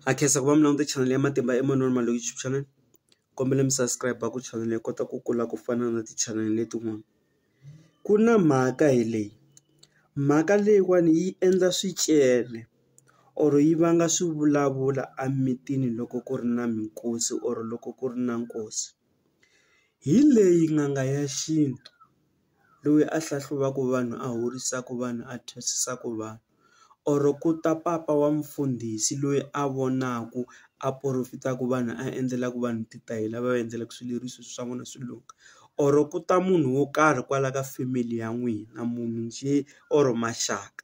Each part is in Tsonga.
Ha khensa ku va mi languta channel ya Matimba Emanuel Maloyi YouTube channel kombela mi subscribe ku channel hi kota ku kula ku fana na ti channel letin'wana ku na mhaka hi leyi mhaka leyiwani yi endla swicele or yi vanga swivulavula emitini loko ku ri na minkosi or loko ku ri na nkosi hi leyi n'anga ya xintu. loyi a hlahluvaka vanhu a horisaka vanhu a thwasisaka vanhu or ku ta papa wa mfundhisi loyi a vonaka a profit-aka vanhu a endlelaka vanhu ti ta hi lava va endlelaka swileriso swa vona swi lungha or ku ta munhu wo karhi kwala ka family ya n'wina munhu njhe or maxaka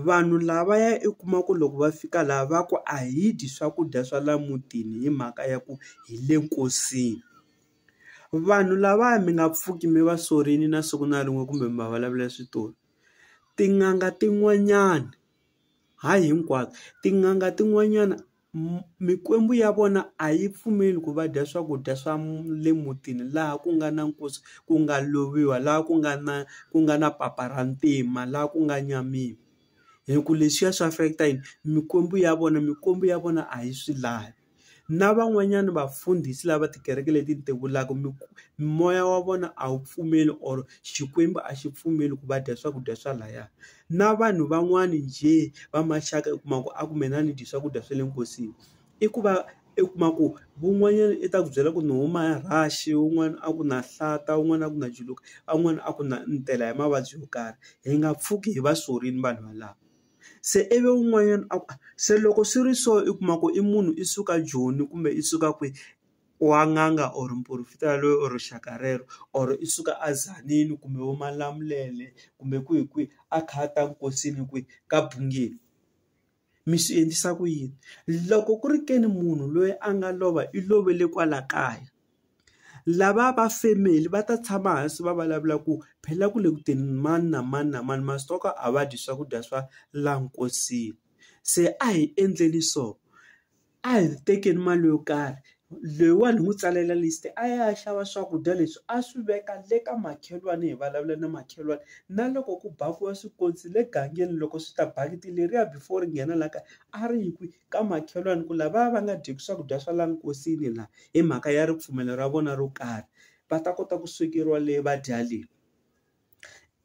vanhu lava ya i kuma ku loko va fika laha va ku a hi dyi swakudya swa laha mutini hi mhaka ya ku hi le nkosini Vanhu lavaya mi nga pfuki mi va sorini na siku na rin'we kumbe mi va vulavula switori. Tin'anga tin'wanyana, hayi hinkwato, tin'anga tin'wanyana mikwembu ya vona a yi pfumeli ku va dya swakudya swa le mutini laha ku nga na nkosi, ku nga loviwa, laha ku nga na ku nga na papa ra ntima, laha ku nga nyamiwa. Hi ku leswiya swi affect-a yini? Mikwembu ya vona, mikwembu ya vona a yi swi lavi. na van'wanyana vafundhisi lava tikereke leti ti vulaka moya wa vona a wu pfumeli or Xikwembu a xi pfumeli ku va dya swakudya swa laya na vanhu van'wani njhe va maxaka u kuma ku a kumbe na ni dye swakudya swa le nkosini i ku va i kuma ku van'wanyana i ta ku byela ku ni huma rhaxi wun'wana a ku na hlata wun'wana a ku na juluka a wun'wana a ku na ni tela hi mavabyi yo karhi hi nga pfuki hi va sorini vanhu valava. Se ivi un'wanyana a ku a se loko swi ri so i kuma ku i munhu i suka joni kumbe i suka kwihi wa n'anga or muporofeta yaloye or rixaka rero or i suka a Tzaneen kumbe vo Malamulele kumbe kwihi kwihi a kha a ta nkosini kwihi ka Bhungeni mi swi endlisa ku yini loko ku ri ke ni munhu loyi a nga lova i lovele kwala kaya. Lava va family va ta tshama hansi va vulavula ku phela ku le ku teni mani na mani na mani masokra a va dyi swakudya swa la nkosini se a hi endleni so a hi tekeni mali yo karhi leyiwani hi n'wi tsalela list a ya a ya xava swakudya leswi a swi veka le ka makhelwani hi vulavula na makhelwani na loko ku bakiwa swikontsi le gangeni loko swi ta bakiti leriya before ri nghena la kaya a ri yi kwihi ka makhelwani ku lavaya va nga dyeki swakudya swa la nkosini la hi mhaka ya ripfumelo ra vona ro karhi va ta kota ku swekeriwa le va dya le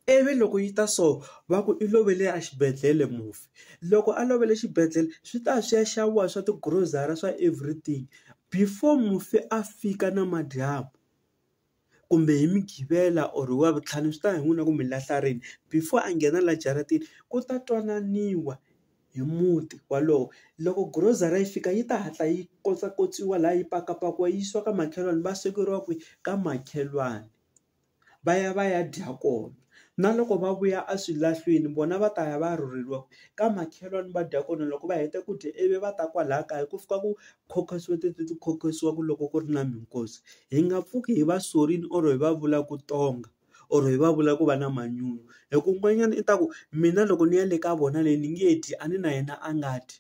ivi loko yi ta so va ku i lovele a xibedhlele mufi loko a lovele xibedhlele swi ta swi ya xaviwa swa ti grocery swa everything before mufi a fika namadyambu. kumbe hi mugqivela or hi wavuntlhanu swi ta ya hi n'wina ku mi lahla rini before a nghena la jaratini ku ta twananiwa hi muti walowo loko grocery yi fika yi ta hatla yi kotsa kotsiwa la yi pakapakiwa yi yisiwa ka makhelwani va swekeriwa kwihi ka makhelwani va ya va ya dya kona. Na loko va vuya eswilahlwini vona va ta ya va ya rhurheriwa ka makhelwani va dya kona loko va heta ku dya ivi va ta kwalaya kaya ku fika ku khokhotsiwa tete ti khokhotsiwa ku loko ku ri na minkosi hi nga pfuki hi va sorini or hi va vula ku tonga or hi va vula ku va na manyunyu hi ku un'wanyana i ta ku mina loko ni ya le ka vona le ni nge dyi a ni na yena a nga dyi.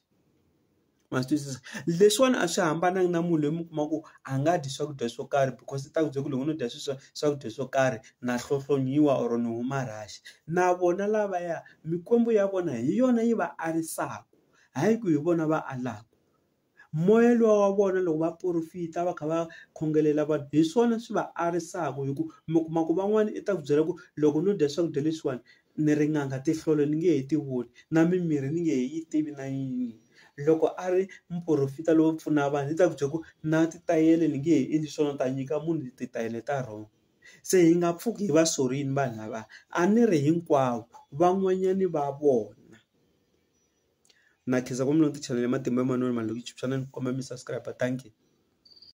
ma swi twisisa leswiwani a swi hambananga na munhu loyi mi kuma ku a nga dyi swakudya swo karhi because i ta ku byela ku loko no dya sweswiwa swakudya swo karhi na hlohlonyiwa or ni huma rhaxi na vona lavaya mikwembu ya vona hi yona yi va arisaka hayi ku hi vona va alaka moya luwa wa vona loko va porofita va kha va khongelela vanhu hi swona swi va arisaka hi ku mi kuma ku van'wani i ta ku byela ku loko no dya swakudya leswiwani ni ri n'anga tinhlolo ni nge he ti voni na mimirhi ni nge he yi tivi na yin'we loko a ri muporofeta lowo pfuna vanhu ni ta ku byela ku na titayele ni nge he endli swona ni ta nyika munhu titayele ta wrong se hi nga pfuki hi va sorini vanhu lava a ni ri hinkwavo van'wanyani va vona na khensa ngopfu ni channel ya matimba ya manana Malume Joni xana ni komba mi subscribe thank you.